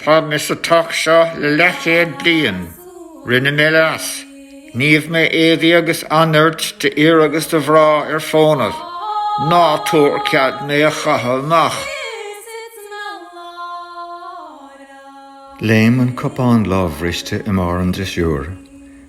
Tá mé sa teach seo le leathchéad bliain. Rinne mé leas. Shníomh mé éadaí agus anairt d'fhir agus do mhná ar fónamh. Ná tabhair cead mé a chaitheamh amach. Léim an cupán lámhbhriste i mbarr an drisiúir.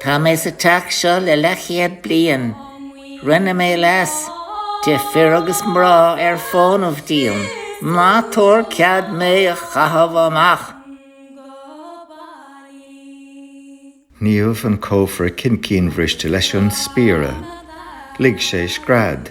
Tá mé sa teach seo le leathchéad bliain. Rinne mé leas, d'ibh fir agus mná ar fónamh díom, ná tabhair cead mé a chaitheamh amach! Shníomh an cófra cincínbhriste leis an spiara. Lig sé scread.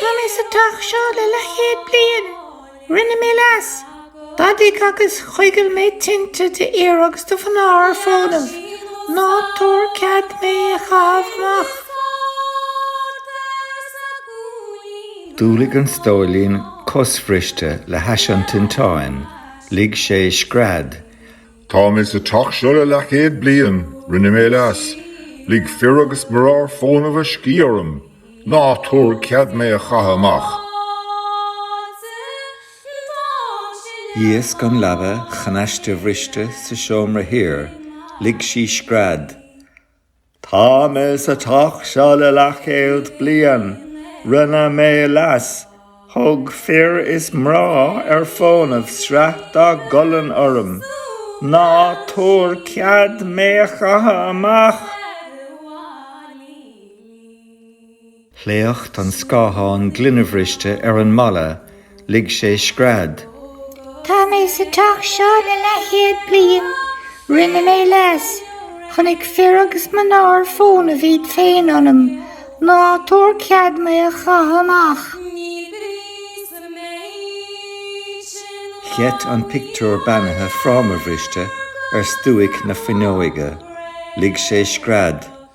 Tá mé sa teach seo le leathchéad bliain. Rinne mé leas. D'fhadaigh agus choigil mé tinte d'fhir agus do mhná ar fónamh. Ná tabhair cead mé a chaitheamh amach. D'umhlaigh an stóilín cosbhriste le hais an tinteáin. Lig sé scread. Tá mé sa teach seo le leathchéad bliain, rinne mé leas, lig fir agus mná ar fónamh a scíth orm, ná tabhair cead mé a chaitheamh amach. Dhíosc an leaba chnaistebhriste sa seomra thiar, lig sí scread. Tá mé sa teach seo le leathchéad bliain. Rinne mé leas. Thug fir is mná ar fónamh sraith dá gcolainn orm. Ná tabhair cead mé a chaitheamh amach! Shléacht an scáthán gloinebhriste ar an mballa, lig sé scread. Tá mé sa teach seo le leathchéad bliain. Rinne mé leas. Chonaic fir agus mná ar fónamh iad féin ionam. Ná tabhair cead mé a chaitheamh amach. Gheit an pictiúr beannaithe frámabhriste ar stuaic na fuinneoige. Lig sé scread.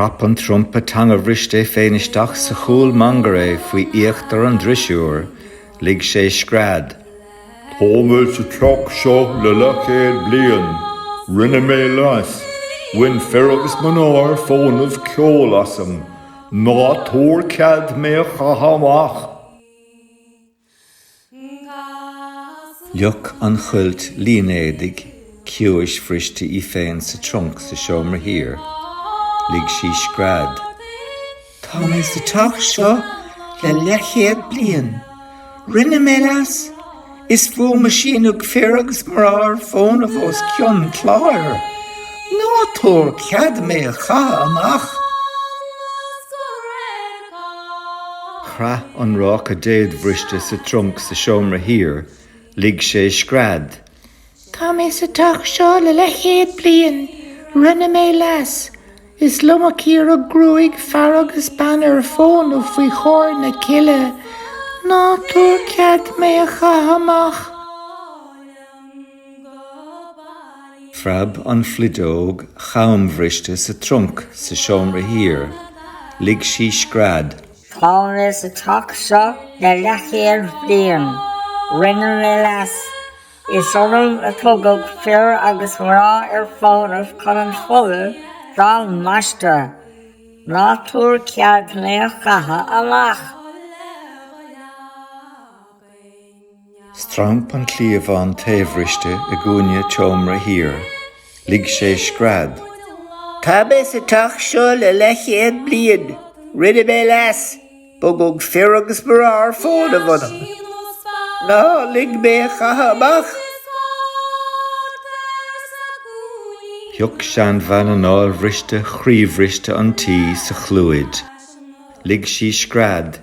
Chrap an trumpa teangabhriste é féin isteach sa chúl mangarae faoi íochtar an drisiúir. Lig sé scread. Tá mé sa teach seo le leathchéad bliain. Rinne mé leas. Bhain fir agus mná ar fónamh ceol asam. Ná tabhair cead mé a chaitheamh amach! Fhliuch an chuilt línéadaigh ciumhaisbhriste í féin sa trunc sa seomra thiar. Lig sí scread. Tá mé sa teach seo le leathchéad bliain. Rinne mé leas. Is fúm a síneadh fir agus mná ar fónamh os cionn cláir. Ná tabhair cead mé a chaitheamh amach. Chraith an ráca déadbhriste sa trunc sa seomra thiar. Lig sé scread. Tá mé sa teach seo le leathchéad bliain. Rinne mé leas. Is liom a cíoradh gruaig fear agus ban ar fónamh faoi chomhair na cille. Ná tabhair cead mé a chaitheamh amach. Phreab an phluideog cham-bhriste sa trunc sa seomra thiar. Lig sí scread. Tá mé sa teach seo le leathchéad bliain. Rinne mé leas. Is orm a tugadh fir agus mná ar fónamh chun an foladh dá mbaisteadh. Ná tabhair cead mé a chaitheamh amach. Stramp an cliabhán taobhbhriste i gcúinne an tseomra thiar. Lig sé scread. Tá mé sa teach seo le leathchéad bliain. Rinne mé leas. Bogadh fir agus mná ar fónamh ionam. Ná lig mé a chaitheamh amach. Shioc seanbhean anáilbhriste chroíbhriste an tí sa chlúid. Lig sí scread.